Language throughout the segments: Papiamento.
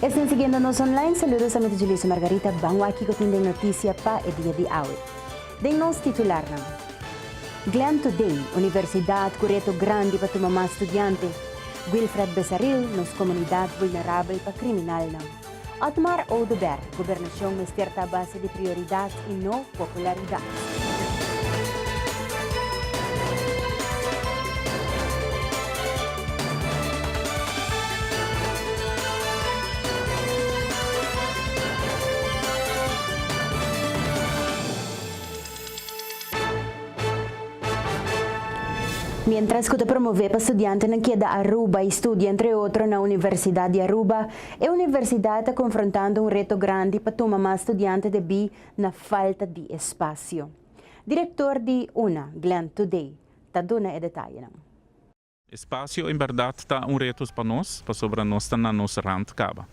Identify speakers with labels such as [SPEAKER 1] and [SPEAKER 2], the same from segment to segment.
[SPEAKER 1] Esnan siguiendo nos online, saludosamente dje Luisa Margarita, ban wak kico tin den noticia pa e dia di awe. Den nos titularnan. Glen to den, universidad cu reto grandi pa tuma mas studiante. Wilfred Besaril, nos comunidad vulnerabel pa criminalnan. Otmar Oduber, gobernacion mester ta base di prioridad. i no popularidat. Mientras cu ta promove pa studiantenan keda Aruba y studia entre otro na Universidad di Aruba, E universidad ta confrontando un reto grandi pa tuma mas studiante debí na falta di espacio. Director di una, Glenn Today, ta duna e detayenan.
[SPEAKER 2] Espacio en berdad ta un retos pa nos pasobra nos ta na nos rand caba.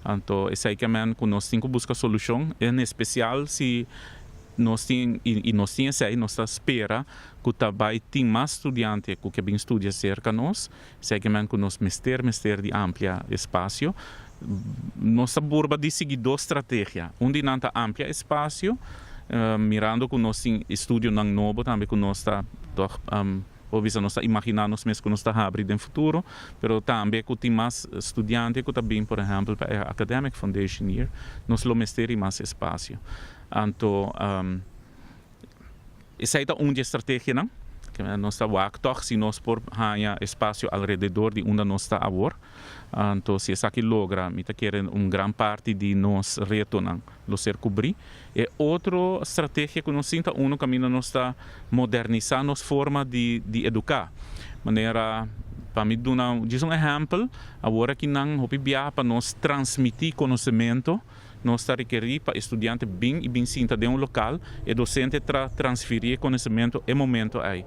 [SPEAKER 2] Anto esey ke men cu nos tin cu busca solucion, en especial si nos tin y nos tin esey, nos ta spera cu ta bay tin mas studiante cu ke bin studia cerca nos. Seginan cu nos mester mester di amplia espacio. Nos ta burba di sigui dos strategia. Un di nan ta amplia espacio, mirando cu nos tin e studionan nobo tambe cu nos ta tog por bisa nos ta imagina nos mes cu nos ta habri den futuro, pero tambe cu tin mas studiante cu ta bin por ehempel pa e academic foundation year, nos lo mester di mas espacio. Anto. Esei ta un di e strategianan ku nos ta wak tòg si nos por haña espasio alrededor di unda nos ta awor. Anto si esaki logra mi ta kere un gran parti di nos retonan lo ser kubrí. E otro strategia ku nos tin ta unu kaminda nos ta modernisá nos forma di di eduká. Manera pa mi duna djis un ehèmpel, awor aki nan hopi biaha pa nos transmití konosementu. Nos ta rekerí pa e studiante bin i bin sinta den un lokal, e dosente tra transferí e konosementu e momentu ei.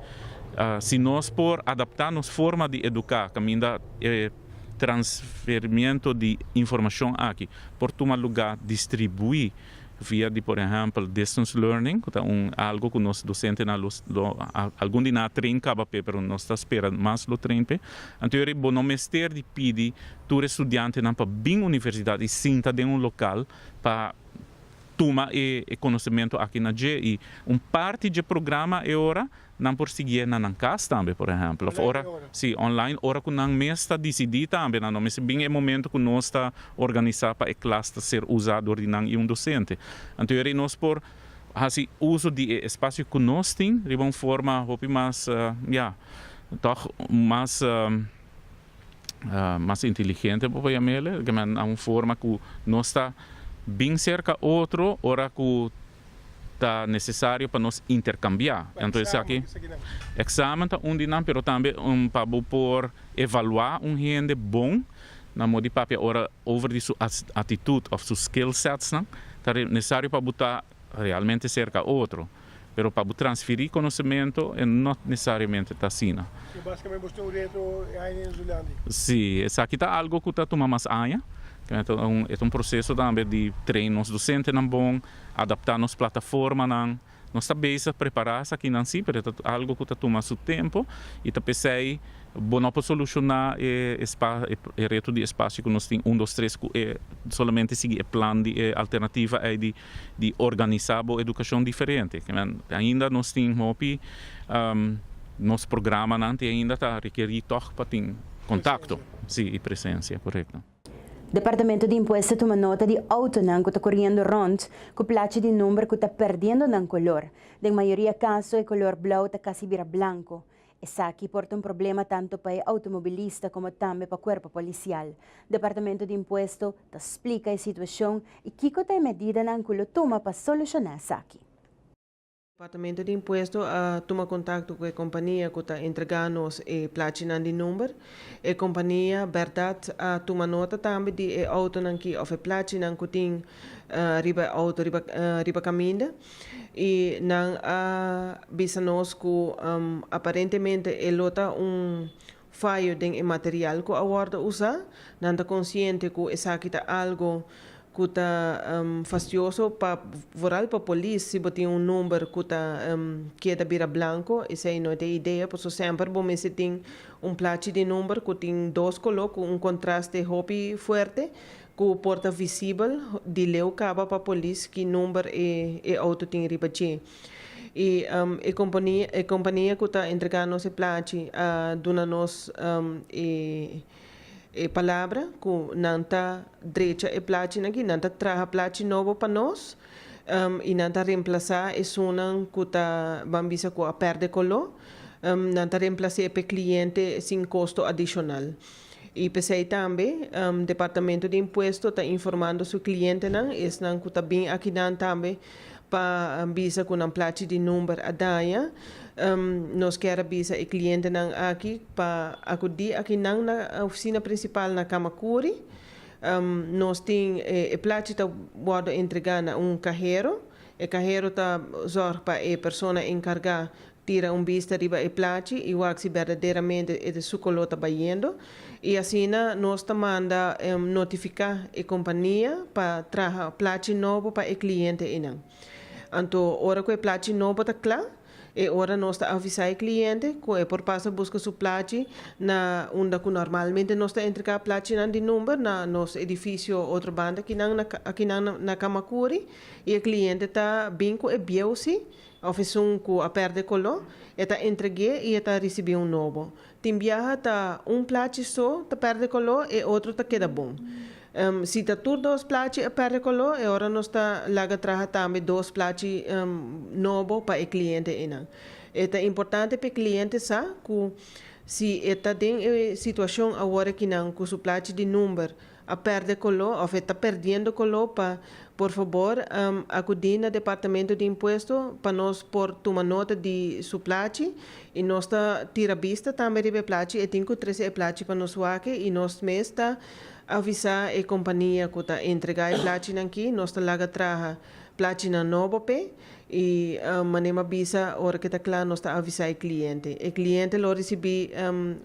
[SPEAKER 2] Si nos por adaptá nos forma di eduká kaminda e transferimentu di informashon aki por tuma lugá distribuí via di por ehèmpel distance learning, ku ta un algu ku nos dosentenan lo lo algun di nan a tren kaba p'e pero nos ta spera mas lo tren p'e, anto yori bo no mester di pidi tur e studiantenan pa bin universidat i sinta den un lokal pa tuma e konosementu aki na dje. I un parti dje programa e ora nan por siguié na nan kas tambe, por ehèmpel, òf ora, si, online, ora ku nan mes ta disidí tambe nan no mester bin e momentu ku nos ta organisá pa e klas ta ser usá dor di nan i un dosente. Antoeri nos por hasi uso di e espasio ku nos tin riba un forma hopi mas, ya, tòg mas. mas inteligente bo pabia mele e kende nan un forma ku nos ta bin serka otro ora ku ta nesesario pa nos interkambiá enton esaki eksamen ta un di nan pero tambe un pa bo por evaluá un hende bon na modi papia ora over di su atitut òf su skill sets nan ta nesesario pa bo ta realmente serka otro, pero pa bo transferi konosementu e no nesesariamente ta asina. So basikamenti bo sta un
[SPEAKER 3] reto e aña den Zulandia? Sí, esaki ta
[SPEAKER 2] algo ku ta tuma mas aña. E ta un proseso tambe di train nos dosentenan bon, adaptá nos plataformanan. Nos ta bezig prepará esakinan sí, pero e ta algo ku ta tuma su tempu i ta p'esei Bo no por soluciona e reto di espacio cu nos tin un dos tres cu e solamente sigui e plan di e alternativa ey di organisa bo educacion diferente. Ainda nos tin hopi nos programanan tin ainda ta requeri toch pa tin contacto y presencia corecto. Departamento
[SPEAKER 1] di Impuesto tuma nota di autonan cu ta coriendo rond cu plachi di number cu ta perdiendo nan color. Den mayoria caso e color blauw ta casi bira blanco. Esaki por ta un problema tantu pa e outomobilista komo tambe pa kuerpo polisial. Departamento di Impuesto ta splika e situashon i kiko ta e medidanan ku lo tuma pa solushoná esaki.
[SPEAKER 4] Departamento di Impuesto a tuma kontakto ku e kompania ku ta entregá nos e plachinan di number. E kompania bèrdat a tuma nota tambe di e outonan ki òf e plachinan ku tin riba e outo riba riba kaminda. I nan a bisa nos ku aparentemente e lo ta un fayo den e material ku a wòrdu usá. Nan ta konsiente ku esaki ta algu ku ta fastioso pa vooral pa polis si bo tin un number ku ta keda bira blanko. Esei no ta e idea, pasobra semper bo mester tin un plachi di number ku tin dos koló ku un kontraste hopi fuerte. Ku por ta visibel di leu kaba pa polis ki number e outo tin riba dje. I e kompania ku ta entrega nos e plachi a duna nos e palabra ku nan ta drecha e plachinan aki, nan ta traha plachi nobo pa nos i nan ta remplasá esunnan ku ta ban bisa ku a pèrdè koló. Nan ta remplas'é p'e kliente sin kosto adishonal. I p'esei tambe Departamento di Impuesto ta informando su klientenan, esnan ku ta bin akinan tambe pa bisa ku nan plachi di number a daña. Nos kier a bisa e klientenan aki pa akudí akinan na ofisina prinsipal na Kamakuri. Nos tin e plachi ta wòrdu entregá na un kahero. E kahero ta zòrg pa e persona enkargá Tira un bista riba e plachi i wak si berdaderamente e ta su koló ta bayendo. I asina nos ta manda notifiká e kompania pa traha plachi nobo pa e kliente einan. Anto ora ku e plachi nobo ta kla, e ora nos ta avisá e kliente ku e por pasa buska su plachi na unda ku normalmente nos ta entregá plachinan di number, na nos edifisio otro banda akinan na Camacuri, i e kliente ta bin ku e bieusi Òf esun ku a pèrdè koló, e ta entreg'é i e ta risibí un nobo. Tin biaha ta un plachi so ta pèrdè koló, e otro ta keda bon. Si ta tur dos plachi a pèrdè koló, e ora nos ta laga traha tambe dos plachi nobo pa e kliente einan. E ta importante pa e kliente sa ku si e ta den e situashon awor aki nan ku su plachi di number a perde coló of e ta perdiendo coló pa por fabor acudi na departamento di impuesto pa nos por tuma nota di su plachi y nos ta tira bista tambe riba e plachi e tin cu trece e plachi pa nos wake y nos mes ta avisa e compania cu ta entrega e plachinan aki nos ta laga traha plachinan nobo pe y mane m'a bisa ora ke ta cla nos ta avisa e cliente e cliente lo ricibi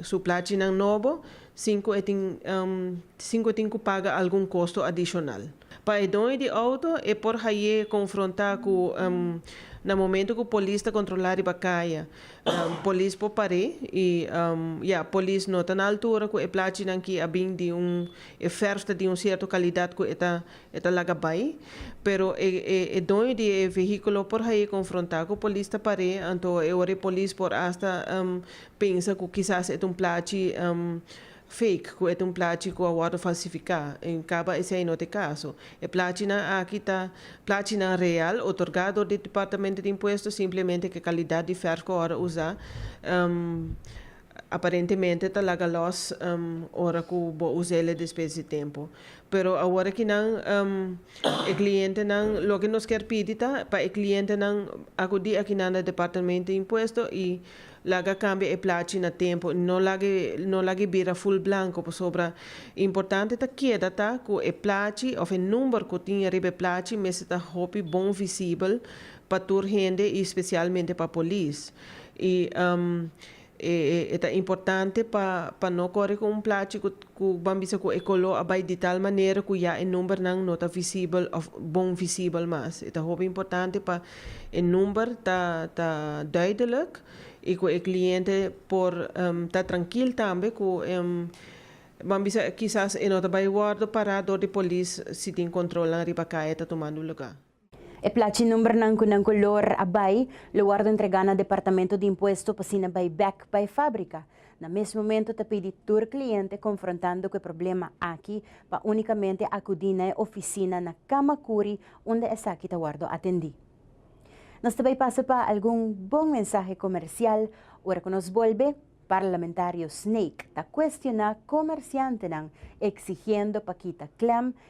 [SPEAKER 4] su plachinan nobo sin cu e tin sin cu e tin cu paga algun costo adicional. Pa e doño di auto e por haye confronta cu na momento cu polis ta controla riba caya polis por pare y ya polis no ta na altura cu e plachinan ki a bin di un e verf ta di un cierto calidad cu e ta e ta laga bay pero e e e doño di e vehiculo por haye confronta cu polis ta pare anto e ora e polis por hasta Pensa cu kisas e ta un plachi fake, cu e ta un plachi cu a wordo falsifica. En caba esey no ta e caso. E plachinan aki ta plachinan real otorga door di Departamento di Impuesto, simplemente cu e calidad di verf cu a wordo uza aparentemente ta laga los ora cu bo uza el'e despues di tempo. Pero awor aki nan e clientenan loke nos kier pidi ta pa e clientenan acudi aki nan na Departamento di Impuesto y. Laga cambia e plachi na tempo y no lag'e no lag'e bira full blanco pasobra importante ta keda ta cu e plachi of e number cu tin ariba e plachi mester ta hopi bon visibel pa tur hende y specialmente pa polis y um e e ta importante pa pa no core cu un plachi cu cu ban bisa cu e color a bay di tal manera cu ya e numbernan no ta visibel of bon visibel mas e ta hopi importante pa. E number ta ta duidelijk y cu e cliente por ta trankil tambe cu Ban bisa kisas e no ta bay wordo para door di polis si tin controlnan riba calle ta tumando lugar. E plachi
[SPEAKER 1] numbernan cu nan color a bay lo wordo entrega na Departamento di Impuesto pa asina bay bek pa e fabrica. Na mes momento ta pidi tur kliente konfrontando ku e problema aki pa únikamente akudí na e ofisina na Kamakuri unda esaki ta wòrdu atendí. Nos ta bai pasa pa algun bon mensahe komersial ora ku nos bolbe, Parlamentario Snake ta kuestioná komersiantenan eksigiendo pa kita klèm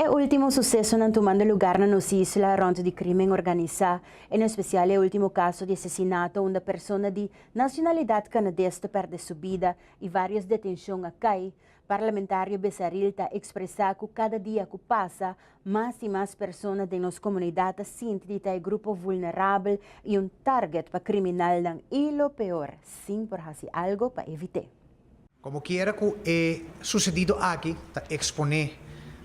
[SPEAKER 1] E ultimo susesonan tumando lugar na nos isla rond di crimen organisa, en especial e ultimo caso di asesinato unda persona di nacionalidad Canades ta perde su bida y varios detencion a cay, Parlamentario Besaril ta ekspresá ku kada dia ku pasa mas i mas persona den nos komunidat ta sinti di ta e grupo vulnerabel i un tárgèt pa kriminalnan i lo peor sin por hasi algo pa evit'é. Komo kiera
[SPEAKER 5] ku e susedido aki ta eksponé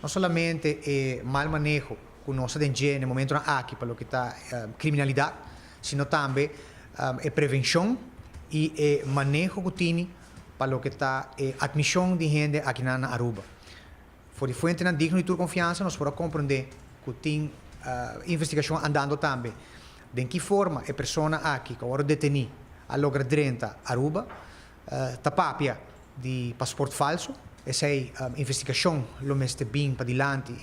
[SPEAKER 5] no solamente e mal maneho ku nos ta den dje n'e momentunan aki pa loke ta kriminalidat sino tambe e prevenshon i e maneho ku tini pa loke ta e admishon di hende akinan na Aruba. For di fuentenan digno di tur konfiansa nos por a komprondé ku tin investigashon andando tambe den ki forma e persona aki ku a wòrdu detení a logra drenta Aruba ta papia di pasport falsu. Esei investigashon lo mester bin padilanti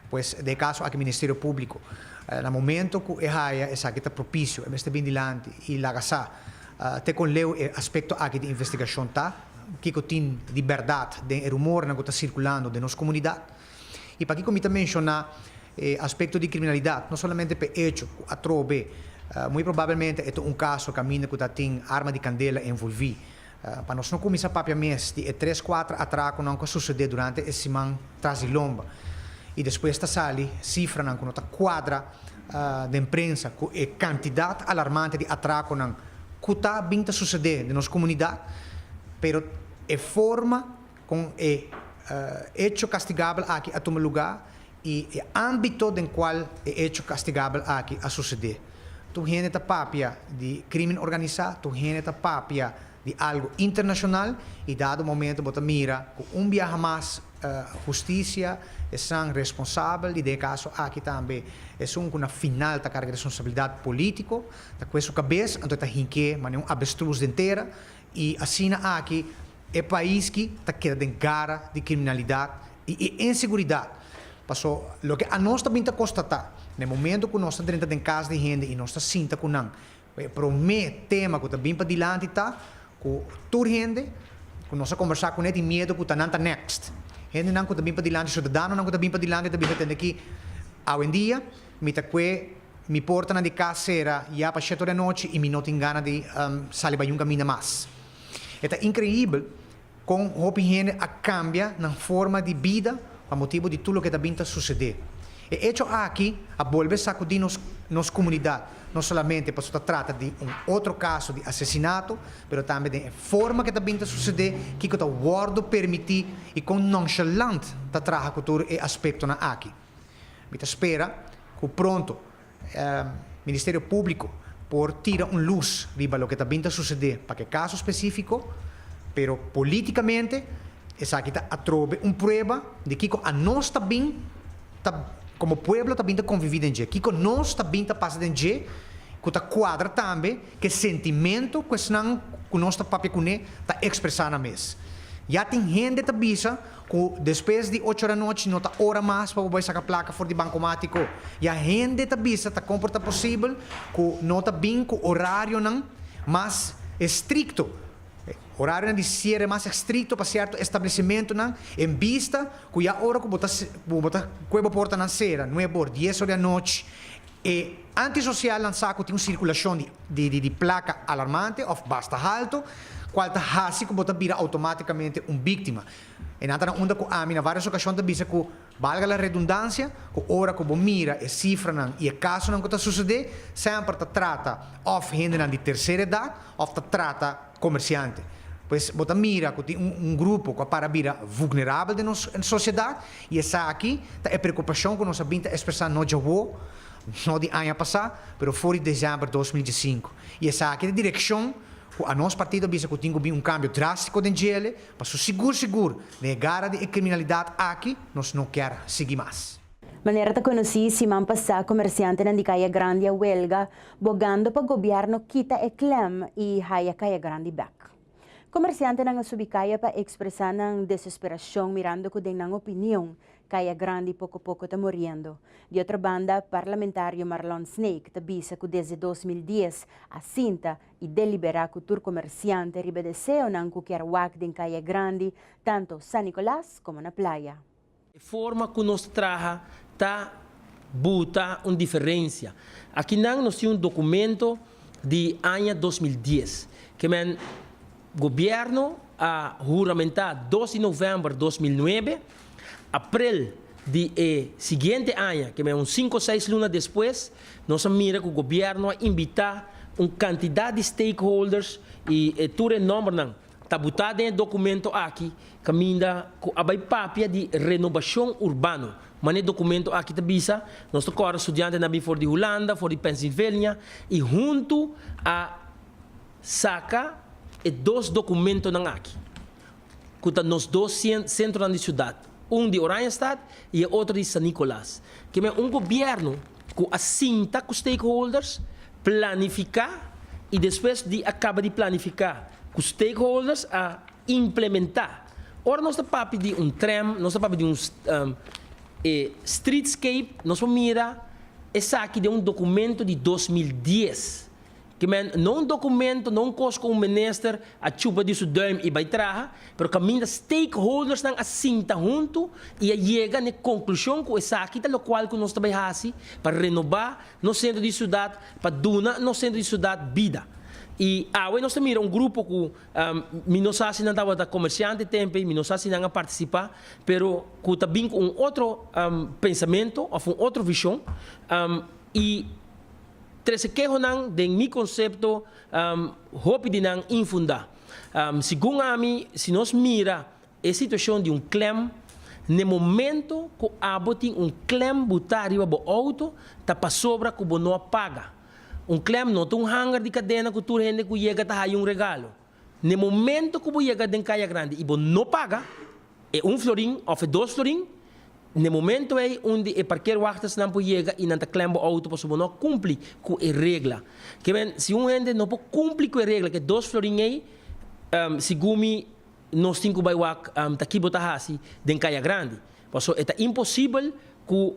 [SPEAKER 5] pues den e kaso aki Ministerio Públiko na momento ku e haya esaki ta propisio e mester bin dilanti i laga sa Te kon leu e aspekto aki di investigashon ta, kiko tin di bèrdat den e rumornan ku ta sirkulando den nos komunidat? I pa kiko mi ta menshoná e aspekto di kriminalidat? No solamente pa e echo ku atrobe muy probabelmente e ta un kaso kaminda ku ta tin arma di kandela envolví. Pa nos no kuminsá papia mes di e tres kuater atrakonan ku a susede durante e siman tras di lomba i despues ta sali sifranan ku no ta kuadra, den prensa cu e cantidad alarmante di atraconan cu ta bin ta sucede den nos comunidad, pero e forma con e hecho castigabel aki a tuma lugar y e ambito den cual e hecho castigabel aki a sucede. Tur hende ta papia di crimen organisa, tur hende ta papia di algo internashonal i dado momento bo ta mira ku un biaha mas hustisia esan responsabel i den e kaso aki tambe esun ku na final ta karga responsabilidat polítiko ta kue su kabes anto e ta hink'é manera un avestruz den tera i asina aki e pais ki ta keda den gara di kriminalidat i e inseguridat paso loke anos ta bin ta kostatá na e momento ku nos ta drenta den kas di hende i nos ta sinta ku nan Bo e promé tema ku ta bin padilanti ta ku tur hende ku nos a kombersá kuné tin miedu ku ta nan ta next. Hendenan ku ta bin padilanti, siudadanonan ku ta bin padilanti ta bisa tende ki awendia mi ta kue mi portanan di kas sera ya pa shet ora di anochi i mi no tin gana di sali bai un kaminda mas. E ta inkreibel. Kon hopi hende a kambia nan forma di bida pa motibu di tur loke ta bin ta susedé. E echo aki a bolbe sakudí nos nos komunidat, no solamente pasobra ta trata di un otro kaso di asesinato, pero tambe den e forma ke ta bin ta susedé, kiko ta wòrdu permití i kon nonshalant ta traha ku tur e aspektonan aki. Mi ta spera ku pronto E Ministerio Públiko por tira un lus riba loke ta bin ta susedé pa ke kaso spesífiko, pero polítikamente esaki ta atrobe un prueba di kiko anos ta bin ta komo pueblo ta bin ta konviví den dje, kiko nos ta bin ta pasa den dje ku ta kuadra tambe ke sentimentu ku esnan ku nos ta papia kuné ta ekspresá nan mes. Ya tin hende ta bisa Cu despues di ocho ranochi no ta ora mas pa bo bai saca placa for di bancomático. Ya hende ta bisa ta como por ta posibel cu no ta bin cu horarionan mas estricto. Horarionan di ciere mas estricto pa cierto establecimentonan en bista cu ya ora cu bo ta cu bo ta cue bo portanan cera, nuebe or, dies or di anochi, E antisocial lansá ku tin un sirkulashon di plaka alarmante òf basta haltu, kual ta hasi ku bo ta bira outomátikamente un bíktima. E nan ta na unda ku ami na vários okashon ta bisa ku, balga la redundansia, ku ora ku bo mira e sifranan i e kasonan ku ta susedé, sèmper ta trata òf hendenan di terser edat òf ta trata, Komersiante. Pues bo ta mira ku tin un grupo ku a para bira vulnerabel den nos sosiedat i esaki ta e preokupashon ku nos a bin ta ekspresá no djawo, no di aña pasá, pero for di desèmber dos mil diesinku. I esaki ta e direkshon ku anos partido a bisa ku tin ku bin un kambio drástiko den djele pa su sigur sigur den e gara di e kriminalidat aki nos no kèr sigui mas. Manera ta konosí,
[SPEAKER 1] siman pasá komersiantenan di Kaya Grandi a welga Bogando pa gobièrnu kita e klèm i haya kaya grandi bèk. Komersiantenan a subi kaya pa ekspresá nan desesperashon mirando ku den nan opinion kaya grandi poko poko ta moriendo. Di otro banda, parlamentario Marlon Snake ta bisa ku desde dos mil dies a sinta i deliberá ku tur komersiante riba deseonan ku kier wak den kaya grandi tanto San Nicolas komo na playa. E forma
[SPEAKER 6] cu nos traha ta buta un diferencia. Aki nan nos tin un documento di aña dos mil dies. Ke men Gobierno a huramenta dos di november dos mil nuebe. Aprel di e siguiente aña, ke men un cinco seis luna despues, nos a mira cu Gobierno a invita un cantidad di stakeholders y tur e nombernan Tabutá den e dokumento aki kaminda ku a bai papia di renobashon urbano. Mané e dokumento aki ta bisa, nos ta kòrda studiantenan a bin for di Hulanda, for di Pensilvania i huntu a saka e dos dokumentonan aki ku ta nos dos sentronan di siudat. Un di Oranjestad y e otro di San Nicolas. Keme un gobierno cu a sinta cu stakeholders, planifica y despues di a caba di planifica cu stakeholders a implementa. Ora nos ta papia di un tram, nos ta papia di un e streetscape, nos por mira esaki den un documento di dos mil dies. Ki men no un dokumento, no un kos ku un minister a chupa di su duim i bai traha, pero kaminda stakeholdersnan a sinta huntu i a yega na e konklushon ku esaki ta lokual ku nos ta bai hasi pa renobá nos sentro di siudat, pa duna nos sentro di siudat bida. I awe nos ta mira un grupo ku mi no sa si nan tabata komersiante tenpei, mi no sa si nan a partisipá, pero ku ta bin ku un otro pensamentu òf un otro vishon i. Trece kehonan den mi concepto hopi di nan infunda. Segun ami si nos mira e situacion di un klem, n'e momento cu abo tin un klem bo ta riba bo auto ta pasobra cu bo no a paga. Un klem no ta un hanger di cadena cu tur hende cu yega ta haya un regalo. n'e momento ku bo yega den Kaya Grandi i bo no paga e un florin òf e dos florin, n'e momento ei un di e parkeerwachtersnan por yega i nan ta klèm bo outo pasobra bo no a kumpli ku e regla. Ke men, si un hende no por kumpli ku e regla, ku e dos florin ei, segun mi, nos tin ku bai wak ta ki bo ta hasi den Kaya Grandi, pasobra e ta imposibel ku.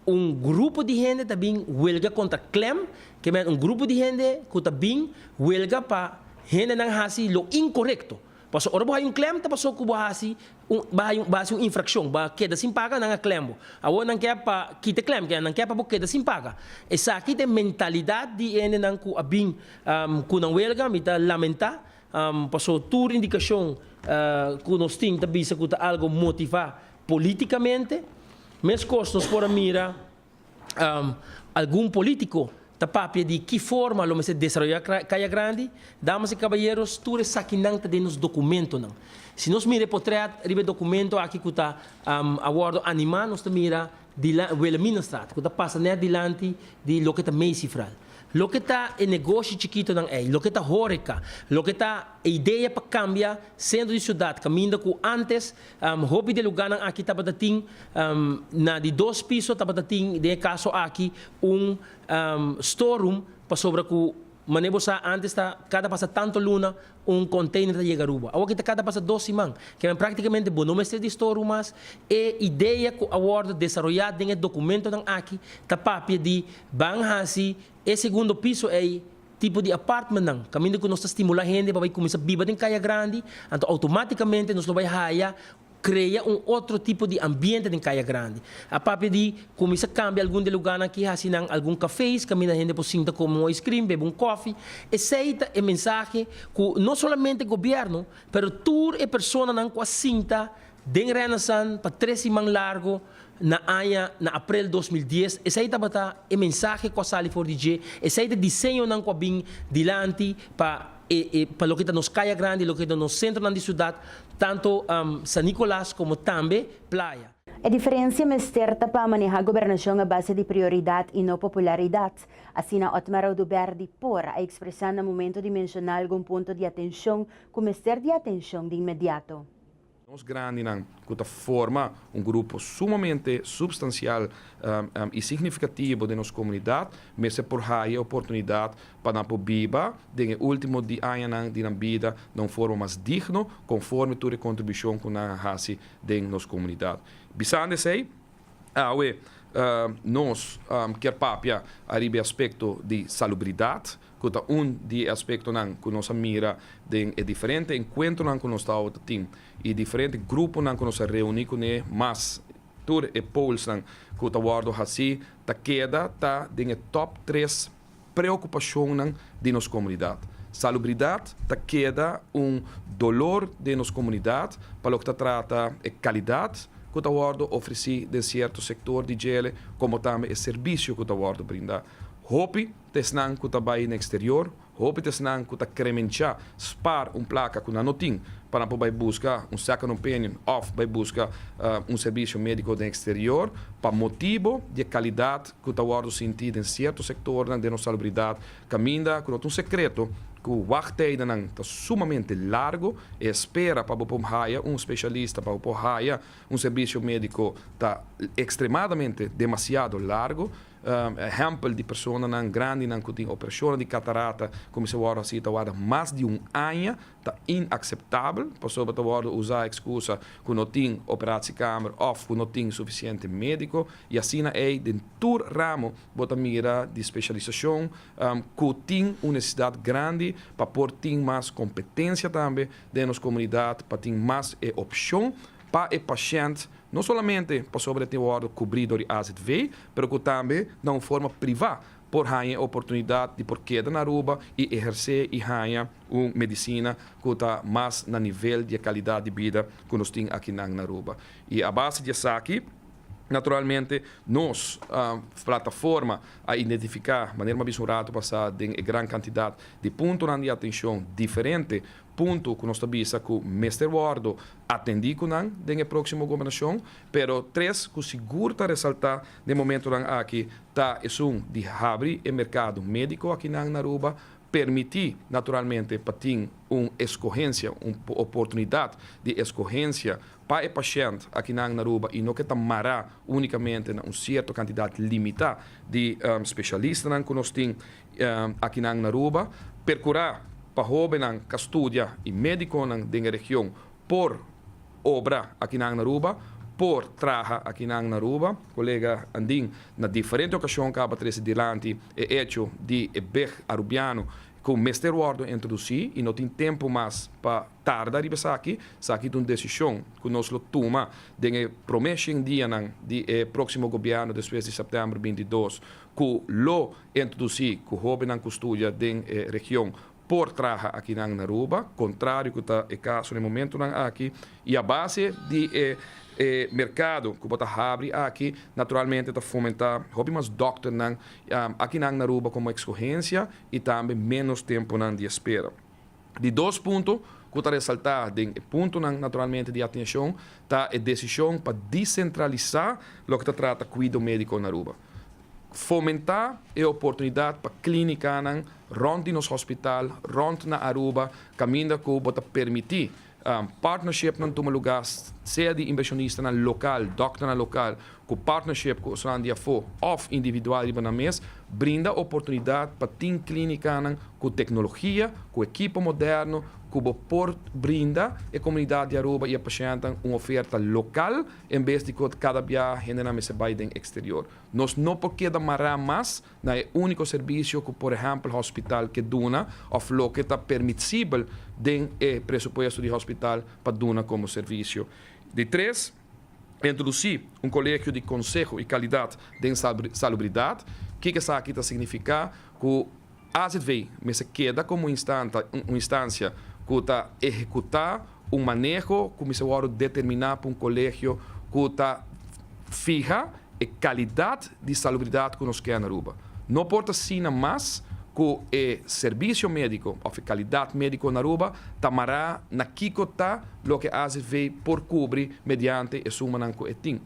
[SPEAKER 6] Un grupo di hende ta bin huelga contra Clem, ke men un grupo di hende cu ta bin huelga pa hendenan haci lo incorecto. Pasobra ora bo hay un Clem ta paso cu bo haci un bo hay bo haci un infraccion, bo a keda sin paga, nan a Clem bo. Awor nan ke pa kita Clem, ke nan ke pa bo keda sin paga. Esaki ta e mentalidad di e hendenan cu a bin cu nan huelga, mi ta lamenta, paso tur indicacion cu nos tin ta bisa cu ta algo motiva. Políticamente, mescos nos por a mira algun político ta papia di ki forma lo mester desaroyá Kaya Grandi, damas i kabayeros, tur esakinan ta den nos dokumentonan. Si nos mira e potrèt riba e dokumento akí ku ta a wòrdu animá, nos ta mira Wilhelminastraat, ku ta pasa nèt dilanti di loke ta Macyfral. Loke ta e negoshi chikitonan ei, loke ta hóreka, loke ta e idea pa kambia sentro di siudat kaminda ku ántes Hopi di lugánan aki tabata tin, na di dos piso tabata tin den e kaso aki un storeroom pasobra ku mané bo sa antes ta kada pasa tantu luna un konteiner ta yega Aruba. Awor ki ta kada pasa dos siman. Kiawen práktikamente bo no mester di storeroom mas. E idea ku a wòrdu desaroyá den e dokumentonan aki ta papia di ban hasi e segundo piso ei tipo di apartmentnan, caminda cu nos ta stimula hende pa bay cuminsa biba den caya grandi, anto automaticamente nos lo bay haya crea un otro tipo di ambiente den caya grandi. A papia di cuminsa cambia algun de lugarnan aki haci nan algun cafes caminda hende por sinta come un ice cream, bebe un cofi. Esey ta e mensahe cu no solamente gobierno, pero tur e personanan cu a sinta, Den Renaissance pa tres siman largu na aña na aprel dos mil dies, esei tabata e mensahe ku a sali for di dje, esei ta diseñonan ku a bin dilanti pa e e pa loke ta nos kaya grandi, loke ta nos sentronan di siudat, tantu San Nicolas komo tambe Playa. E diferensia
[SPEAKER 1] mester ta pa maneha gobernashon a base di prioridat i no popularidat, asina Otmar Oduber di por a ekspresá na momento di menshoná algun punto di atenshon ku mester di atenshon di inmediato. Nos grandinan
[SPEAKER 7] cu ta forma un grupo sumamente substancial y significativo den nos comunidad mester por haya e oportunidad pa nan por biba den e ultimo di añanan di nan bida na un forma mas digno conforme tur e contribucion cu nan a haci den nos comunidad. Bisando esey, awe nos kier papia ariba e aspecto di salubridad. cu ta un di e aspectonan cu nos a mira den e diferente encuentronan cu nos ta wou ta tin y diferente gruponan cu nos a reuni cun'e mas tur e pollsnan cu ta wordo haci ta keda ta den e top tres preocupacionnan di nos comunidad. Salubridad ta keda un dolor den nos comunidad pa loke ta trata e calidad cu ta wordo ofreci den cierto sector di djele como tambe e servicio cu ta wordo brinda. Hopi. Ta esnan ku ta bai na eksterior. Hopi ta esnan ku ta kremenchá spar un plaka ku nan no tin pa nan por bai buska un second opinion òf bai buska un servisio médiko den eksterior pa motibu di e kalidat ku ta wòrdu sintí den sierto sektornan den nos salubridat kaminda ku no ta un sekreto ku wagtijdennan ta sumamente largu. E espera pa bo por haya un spesialista, pa bo por haya un servisio médiko ta ekstremadamente demasiado largu. Ehèmpel di personanan grandinan ku tin operashonnan di katarata kuminsá wòrdu hasi ta warda mas di un aña ta inakseptabel. Pasobra ta wòrdu usá ekskusa ku no tin operatsiekamer òf ku no tin sufisiente médiko. I asina ei den tur ramo bo ta mira di speshalisashon ku tin un nesesidat grandi pa por tin mas kompetensia tambe den nos komunidat pa tin mas e opshon pa e pashènt, no solamente pasobra e tin wòrdu kubrí dor di AZV, pero ku tambe na un forma privá por haña e oportunidat di por keda na Aruba i ehersé i haña un medisina ku ta mas na nivel di e kalidat di bida ku nos tin akinan na Aruba. I a base di esaki, naturalmente, nos plataforma a identifiká, manera mi a bisa un ratu pasá, den e gran kantidat di puntonan di atenshon diferente Punto cu nos ta bisa cu mester wordo atendi cu nan den e proximo gobernacion, pero tres cu sigur ta resalta den momentonan aki ta esun di habri e mercado medico akinan na Aruba, permiti naturalmente pa tin un escogencia, un oportunidad di escogencia pa e pashent akinan na Aruba y no ke ta mara unicamente na un cierto cantidad limita di specialistanan cu nos tin. Akinan na Aruba perkurá pa hóbennan ka studia i médikonan den e region por obra akinan na Aruba, por traha akinan na Aruba. Kolega Andin na diferente okashon kaba trese dilanti e echo di e beg arubiano ku mester wòrdu introdusí i no tin tempu mas pa tarda riba esaki. Esaki ta un desishon ku nos lo tuma den e promé shen dianan di e próksimo gobièrnu despues di sèptèmber binti dos ku lo E introducí cu hobennan cu studia den e region por traha akinan na Aruba, contrario cu ta e caso na e momentonan aki, y a base di e e mercado cu bo ta habri aki, naturalmente ta fomenta hopi mas dokternan akinan na Aruba como excogencia y tambe menos temponan di espera. Di dos punto cu ta resalta den e puntonan naturalmente di atencion ta e decision pa dicentralisa loke ta trata cuido medico na Aruba. Fomentá e oportunidat pa klínikanan rònt di nos hospital, rònt na Aruba, kaminda ku bo ta permití partnershipnan tuma lugá, sea di invershonistanan lokal, dòkternan lokal ku partnership ku otro nan di afó òf individual riba nan mes, brinda oportunidat pa tin klínikanan ku teknologia, ku ekipo modèrno ku bo por brinda e komunidat di Aruba i e pashentenan un oferta lokal, En bes di cu cada bia hendenan mester bay den exterior, nos no por keda mará mas na e unico servicio cu por ehempel hospital ke duna of loke ta permitsibel den e presupuesto di hospital pa duna como servicio. Di tres, Introduci un colegio di conseho y calidad den salubridad. Kiko esaki ta significa cu. Asit vei, mester keda komo un instansia ku ta ehekutá un maneho ku mester wòrdu determiná pa un kolegio ku ta fiha e kalidat di salubridat ku nos kè na Aruba. No por ta asina mas ku e serbisio médiko òf e kalidat médiko na Aruba ta mará na kiko ta loke asit vei por kubri mediante e sumanan ku e tin.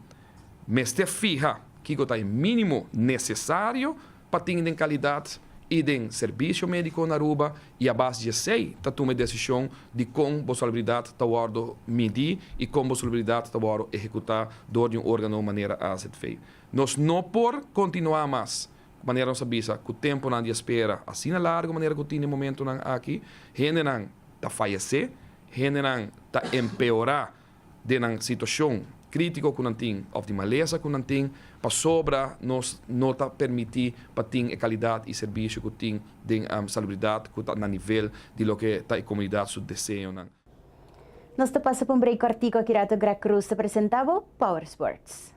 [SPEAKER 7] Mester fiha kiko ta e mínimo nesesario pa tin den kalidat i den servisio médiko na Aruba i a bas di esei ta tuma e desishon di kon bo salubridat ta wòrdu midí i kon bo salubridat ta wòrdu ehekutá dor di un órgano manera AZV. Nos no por kontinuá mas manera nos a bisa ku tempunan di espera asina largu manera ku tin den momentunan aki. Hendenan ta fayesé, hendenan ta empeorá. den nan situacion critico cu nan tin of di malesa cu nan tin pasobra nos no ta permiti pa tin e calidad y servicio cu tin den salubridad cu ta na nivel di loke ta e comunidad su deseonan.
[SPEAKER 1] Nos ta pasa pa un break cortico aki rato Gracruz ta presenta bo Power Sports.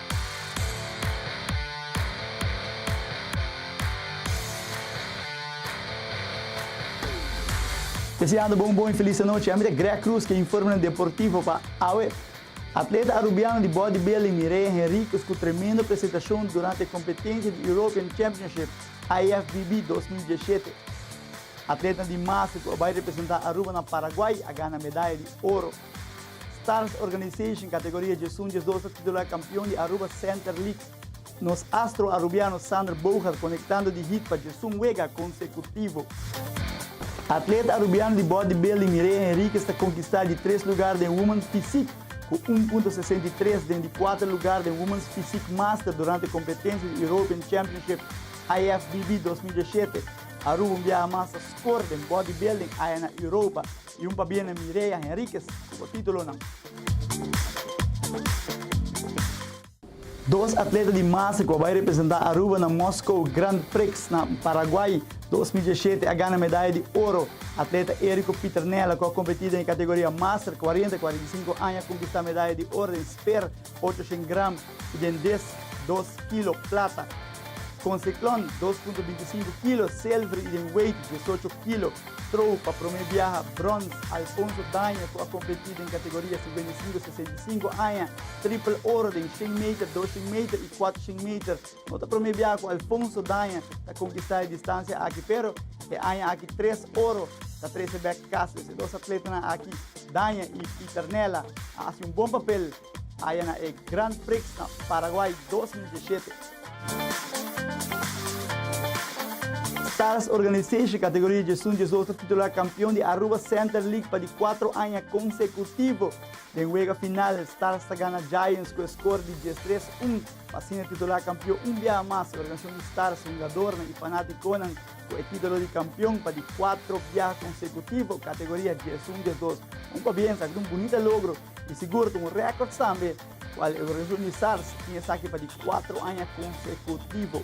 [SPEAKER 8] Deseando bo un bon y feliz anochi. Ami ta Greg Cruz ke informenan deportivo pa awe. Atleta Arubiano di bodybuilding Mireya Henriquez cu tremendo presentacion durante e competencia di European Championship, IFBB, dos mil diesshete. Atletanan di Masa cu a bay representa Aruba na Paraguay a gana medaya di oro. Stars Organization kategoria Djesun Djesdos ta titulá kampion di Aruba Center League. Nos astro Arubiano Sander Boogaard konektando di hit pa Djesun wega konsekutivo. Atleta Arubiano di bòt di building Mireya Henriquez ta konkistá di tres lugar den Women's Physique ku un punto sesenta i tres den di kuater lugar den Women's Physique Master durante kompetensia di European Championship IFBB dos mil diashete. Aruba un biaha mas ta skor den bòt di building aya na Europa. Y un pa biene Mireya Henriquez cu titulonan. Dos atleta di masa cu a bay representa Aruba na Moskou Grand Prix na Paraguay dos mil diecisiete a gana medaya di oro. Atleta Erico Pieternella cu a competi den e categoria Master cuarenta, cuarenta i sinku aña a conquista medaya di oro den Speer 800 gram y den des dos kilo plata. Con Cyclone, dos punto binti sinku kilo selver y den wade, diesocho kilo, trow pa prome biaha brons Alfonso Daño cu a competi den categoria sinkuenta i sinku, sesenta i sinku aña, triple oro den shen meter, doshen meter y kuatrushen meter. No ta promé biaha ku Alfonso Daña ta konkistá e distansia aki pero e aña aki tres oro ta trese bek kas. Des e dos atletanan aki, Daña i Pieter Nella, a hasi un bon papel aya na e Grand Prix na Paraguay dos mil dieshete. Stars Organization kategoria diesun, diesdos ta titular kampion di Aruba Center League pa di kuatro aña konsekutivo. Den wega final, Stars ta gana Giants ku e skor di diestres un. Asina e titulá kampion un biaha mas, e organisacion di stars, hungadornan i fanaticonan cu e titulo di kampion pa di cuatro biaha consecutivo, categoria diesun, diesdos. Un pabia esaki ta un bunita logro i sigur ta un record tambe, cual e organisacion di stars tin esaki pa di cuatro aña consecutivo.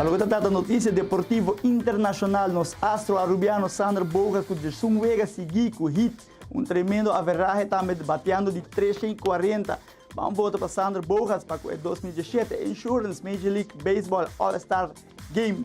[SPEAKER 8] Pa loke ta trata notisia deportivo internashonal nos astro arubiano Sander Boga ku Jersun Wega sigui ku hit, un tremendo averahe tambe bateando di tresha i kuarenta. Ban vota pa Sander Boga's pa ku e dos mil diesshete Insurance Major League Baseball All-Star Game.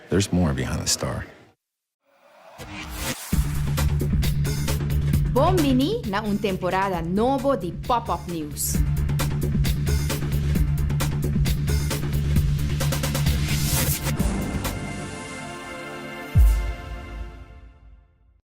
[SPEAKER 9] There's more behind the star.
[SPEAKER 10] Bon bini na un temporada nobo di Pop Up News!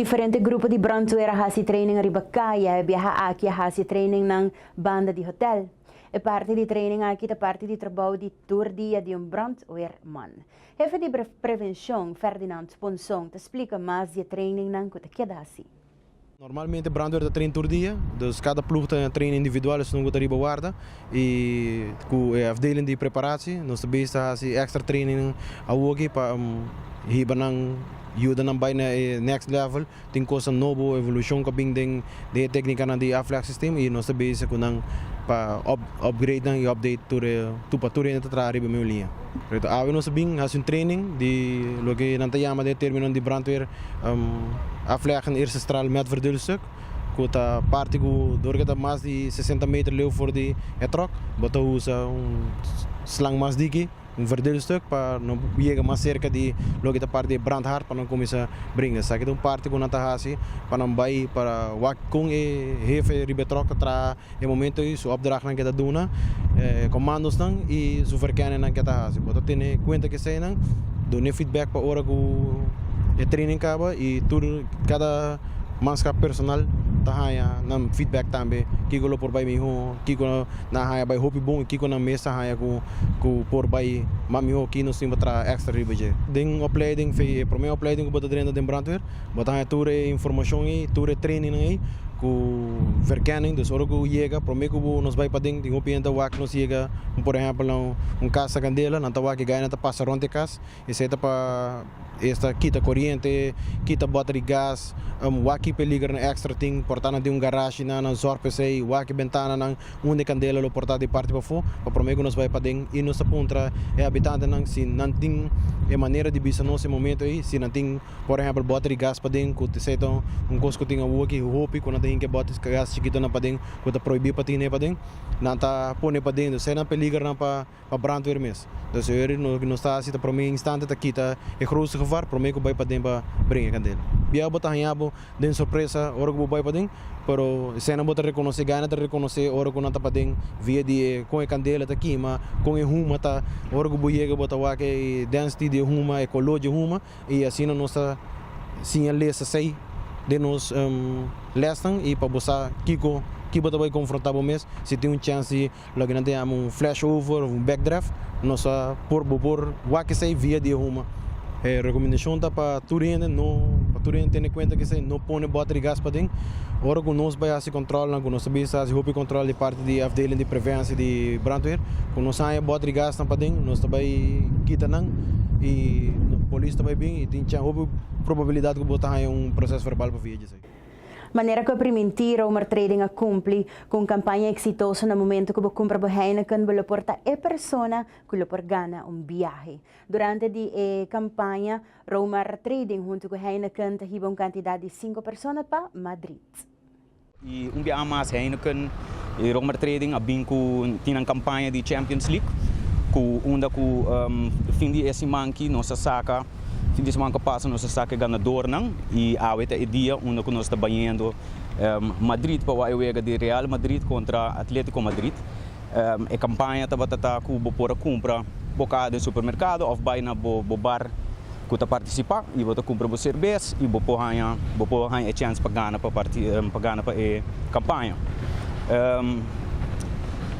[SPEAKER 1] Diferente grupo di brandweer a hasi training riba kaya. E biaha aki a hasi training nan banda di hotel. E parti di training aki ta parti di trabou di tur dia di un brandweerman. Hefe di Prevenshon, Ferdinand Ponson, ta splika mas di e trainingnan ku ta keda hasi. Normalmente
[SPEAKER 11] brandweer ta train tur dia, dus kada plug ta na train individual esun ku ta riba warda i ku e afdeling di preparashi nos ta bisti hasi extra trainingnan awoki pa hiba nan, yuda nan bai na e next level Tin cosa nobo, evolucion cu a bin den e tecnicanan di aflex system y nos ta bezig cu nan pa upgrade nan y update tur e tur pa tur hende ta traha riba e mesmo liña. Correcto. Awe nos a bin haci un training di loke nan ta yama den e terminonan di brandweer afleggen eersestral met verduilstuk cu ta parti cu door cu ta mas di sesenta meter leu for di e truck bo ta usa un slang mas diki. Un verdadero stuk pa no yega mas serka di loke ta parti e brandhaard pa nan kuminsá bringa. Esaki ta un parti ku nan ta hasi pa nan bai pa wak kon e hefe riba e tròk ta traha e momento ei, su opdrachtnan ke ta duna, e komandosnan i su verkennennan ke ta hasi. Bo ta tene kuenta ke eseinan, dun'é feedback pa ora ku e training kaba i tur kada manskap personal ta haña nan feedback tambe kiko lo por bai mihó. kiko nan a haña bai hopi bon y kiko nan mes ta haña cu por bai mas miho, ki nos tin pa traha extra riba dje. Den opleiding fe e prome opleiding cu bo ta drenta den brandweer, bo ta haña tur e informacion ey, tur e trainingnan ey cu verkenning, dus ora cu yega prome cu bo nos bai paden tin hopi hende a wak nos yega, por ehempel un casa candela, nan ta wak yega y nan ta pasa rond e cas. Esei ta pa esta kita coriente, kita bota di gas, waki peliger na extra tin por ta na den un garashi nan, nan zorg pa esei, waki bentana nan unda e candela lo por ta di parti pafo, pa prome cu nos bay paden y nos ta puntra e habitante nan si nan tin e manera di bisa nos e momento ey, si nan tin por ehempel bota di gas paden cu esei ta un cos cu tin awo aki hopi cu nan ta hinca bota di gas chikito nan paden cu ta prohibi pa tine paden nan ta pone paden esei nan peliger nan pa. pa brandweer mes. Dus e oer lo ke nos ta hasi ta prome instante ta kita e grootste gevaar prome ku bai paden pa bring e kandela. Bia bo ta haña bo den sorpresa ora ku bo bai paden, pero esena bo ta rekonosé, gaina ta rekonosé ora ku nan ta paden via di e kon e kandela ta kima, kon e huma ta. Ora ku bo yega bo ta wak e density di e huma, e koló dje huma i asina nos ta siña lesa sei den nos lesnan i pa bo sa kiko, ki bo ta bai konfrontá bo mes si tin un chèns di Loke nan tin ama un flashover of un backdraft nos a por bo por wak esei via di e huma. E recomendashon ta pa tur hende no pa tur hende tene kuenta kesei no pone bota di gas paden ora ku nos bai hasi kontrolnan ku nos ta bisa hasi hopi kontrol di parti di afdeling di prevensie di brandweer ku nos haña bota di gasnan paden nos ta bai kita nan i polis ta bai bin i tin chan hopi probabilidad ku bo ta haña un proces verbal pa via di esei. Manera ku e
[SPEAKER 1] priminti Romer Trading a kumpli ku un kampaña eksitoso na momentu ku bo kumpra bo Heineken, bo lo por ta e persona ku lo por gana un biahe. Durante di e kampaña, Romer Trading huntu ku Heineken ta hiba un kantidat di sinku persona pa Madrid. I
[SPEAKER 12] un biaha mas Heineken i Romer Trading a bin ku tin nan kampaña di Champions League ku unda ku fin di e siman aki nos a saka. Fin di seman ku a pasa nos a saka e ganadornan i awe ta e dia unda ku nos ta bañendo Madrid pa wak e wega di Real Madrid kontra Atletico Madrid. E kampaña tabata ta ku bo por a kumpra bo kaha den supermerkado òf bai na bo bo bar ku ta partisipá i bo ta kumpra bo serbes i bo por haña bo por haña e chèns pa gana pa pa gana pa e kampaña.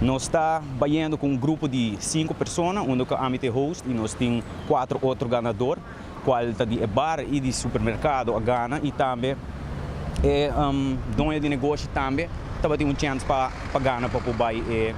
[SPEAKER 12] Nos ta bañendo ku un grupo di sinku persona unda ku ami ta e host i nos tin cuatro otro ganador cual ta di e bar y di supermercado a gana y tambe e doño di negoshi tambe tabatin un chance pa pa gana pa por bay e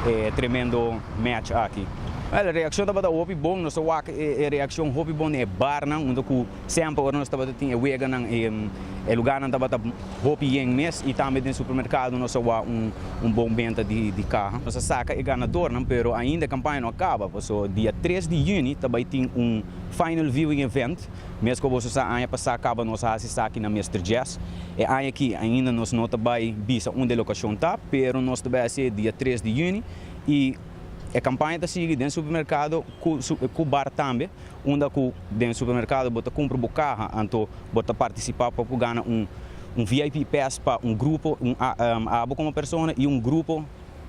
[SPEAKER 12] e tremendo match aki. Wel e reaccion tabata hopi bon nos ta wak e e reaccion hopi bon den e barnan unda cu Semper ora nos tabata tin e weganan e lugarnan tabata hopi yen mes y tambe den supermercado nos a wak un bon benta di caha. Nos a saca e ganadornan pero ainda e campaña no a caba paso dia tres di juni ta bay tin un final viewing event mes cu boso sa aña pasa caba nos a haci esaki na Mister Jazz e aña aki ainda nos no ta bay bisa unda e locacion ta pero nos ta bay haci dia tres di juni y e campaña ta sigui den supermercado cu bar tambe. unda ku den supermerkado bo ta kumpra bo kaha, anto bo ta partisipá pa por gana un un VIP pass pa un grupo, un a abo komo persona i un grupo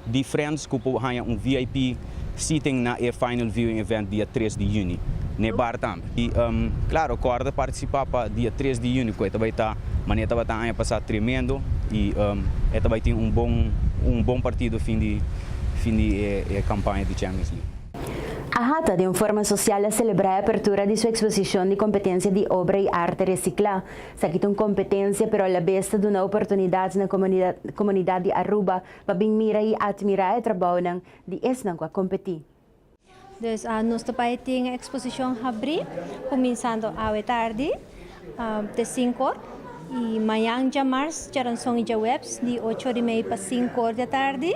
[SPEAKER 12] di friends ku por haña un VIP seating na e final viewing event dia tres di yüni n'e bar tambe. I klaro kòrda partisipá pa dia tres di yüni ku e ta bai ta manera tabata aña pasá tremendo i e ta bai tin un bon un bon partido fin di fin di e kampaña di Champions League. Ahata
[SPEAKER 1] den forma sosial a selebrá e apertura di su eksposishon di kompetensia di obra i arte resiklá. Esaki ta un kompetensia pero alabes ta duna oportunidat na komunidat di Aruba pa bin mira i atmirá e trabounan di esnan ku a kompetí. Dus
[SPEAKER 13] nos ta bai tin e eksposishon habrí kuminsando awe tardi te sinku or i mañan djamarz, djaranson i djaweps di ocho or i mei pa sinku or di atardi.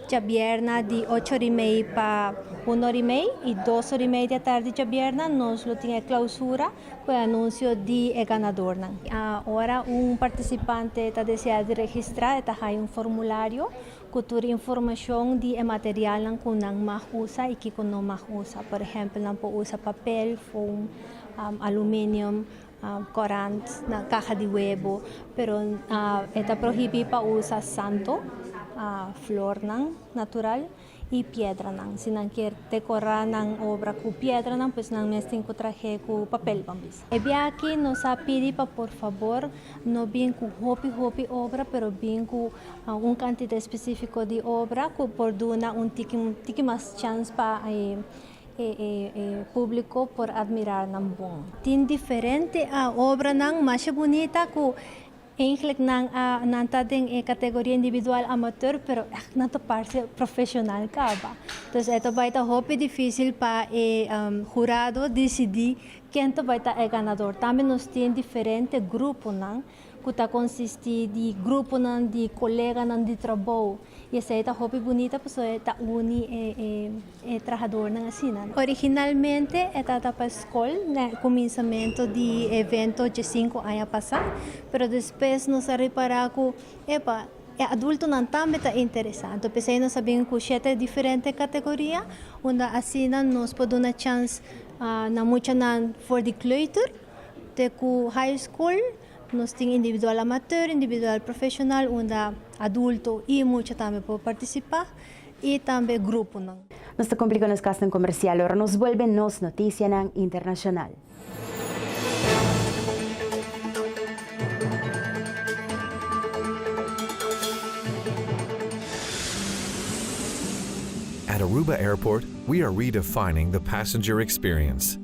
[SPEAKER 13] Djabierna di ocho ori mei pa un ori mei y dos ori mei di atardi djabierna nos lo tin e clausura cu e anuncio di e ganadornan. Ora un participante ta desea di registra e ta haya un formulario cu tur informacion di e materialnan cu nan mag usa y kico no mag usa. Por ehempel nan por usa papel, foam, aluminium. Korant na kaha di webo, pero e ta prohibí pa usa santo, flornan natural i piedranan. Si nan kier dekorá nan obra ku piedranan pues nan mes tin ku trah'é ku papel pa misa. E biaha-akí nos a pidi pa por fabor no bin ku hopi hopi obra, pero bin ku un kantidá espesífiko di obra ku por duna un tiki tiki mas chans pa E públiko por admirá nan bon. Tin diferente obranan masha bunita ku eingèlek nan ta den e kategoria individual amateur, pero ègt nan ta parse profeshonal kaba. Entonces e ta bai ta hopi difísil pa e hurado disidí ken ta bai ta e ganador. Tambe nos tin diferente gruponan. ku ta konsistí di gruponan di koleganan di trabou i esei ta hopi bunita pasobra e ta uni e trahadornan asina. Originalmente e tabata pa skol na e kuminsamentu di e evento dje sinku aña pasá, pero despues nos a repará ku epa, e adultonan tambe ta interesá. Anto p'esei nos a bin ku shete diferente kategoria unda asina nos por duna chans na muchanan for di kleuter, Te ku high school nos tin individual amateur, individual profesional unda adulto i mucha tambe por partisipa i tambe gruponan. Nos ta kumpli ku nos kasnan
[SPEAKER 1] komersial ora nos bolbe nos notisianan internashonal.
[SPEAKER 14] At Aruba Airport, we are redefining the passenger experience.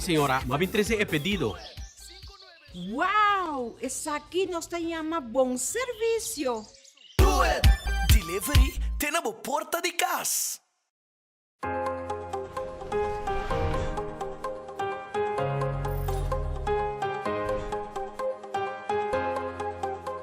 [SPEAKER 15] Señora, bo a bin trece e pedido. Wow!
[SPEAKER 16] Esaki nos ta yama bon servicio!
[SPEAKER 17] Delivery te na bo porta di cas.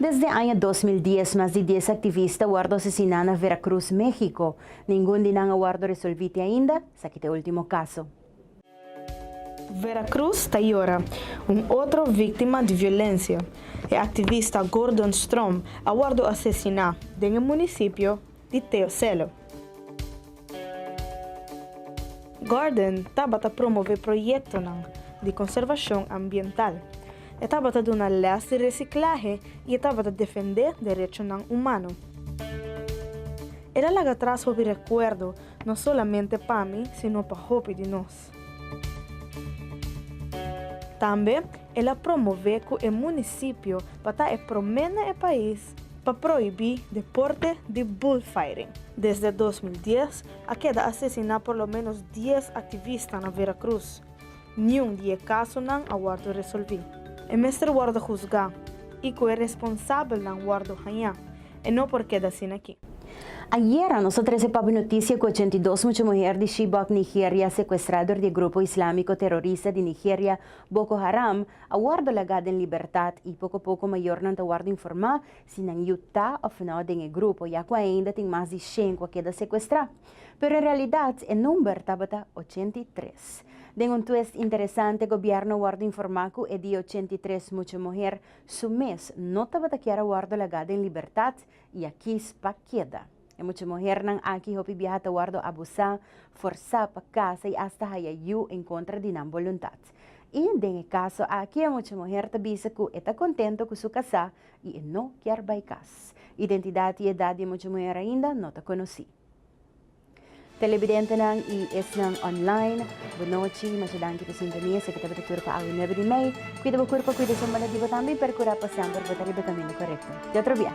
[SPEAKER 1] Desde aña dos mil dies mas di dies activista wordo asesiná na Veracruz, México. Ningun di nan a wordo resolví te ainda, esaki ta e último caso. Veracruz
[SPEAKER 18] ta yora un otro víctima di violencia. E activista Gordon Strom a wordo asesiná den e municipio. di Teocelo. Gordon tabata promové proyektonan di konservashon ambiental, e tabata duna lès di resiklahe i e tabata defendé derechonan umano. El a laga tras hopi rekuerdo, no solamente pa mi, sino pa hopi di nos. Tambe el a promové ku e munisipio pa ta e promé na e pais pa prohibí deporte di bullfighting. Desde dos mil dies a keda asesiná por lo ménos dies aktivista na Vera Cruz. Niun di e kasonan a wòrdu resolví. E mester wòrdu husgá i ku e responsabelnan wòrdu hañá, E no por keda asina aki. Ayera
[SPEAKER 1] nos a trese papia noticia cu ochenta i dos mucha muher di Chibok, Nigeria, secuestra dor di e grupo islamico terorista di Nigeria Boko Haram, a wordo laga den libertad y poco poco mayornan ta wordo informa si nan yu ta of no den e grupo ya cu ainda tin mas di shen cu a keda secuestra. Pero en realidad e number tabata ochenta i tres. Den un twist interesante gobierno a wordo informa cu e di ochenta i tres mucha muher Su mes no tabata kier a wòrdu lagá den libertat i a kies pa keda. E mucha muhernan aki hopi biaha ta wòrdu abusá, forsá pa kasa i asta haya yu en kontra di nan boluntat. I den e kaso aki e mucha muher ta bisa ku e ta kontento ku su kasá i e no kier bai kas. Identidat i edat di e mucha muher ainda no ta konosí. Telebidentenan y esnan online, bo nochi, masha danki pa sintonia, esaki tabata tur pa awe nuebe di mei. Cuida bo curpo, cuida su mona di bo tambe y percura pa semper bo ta riba camino corecto. Di otro bia.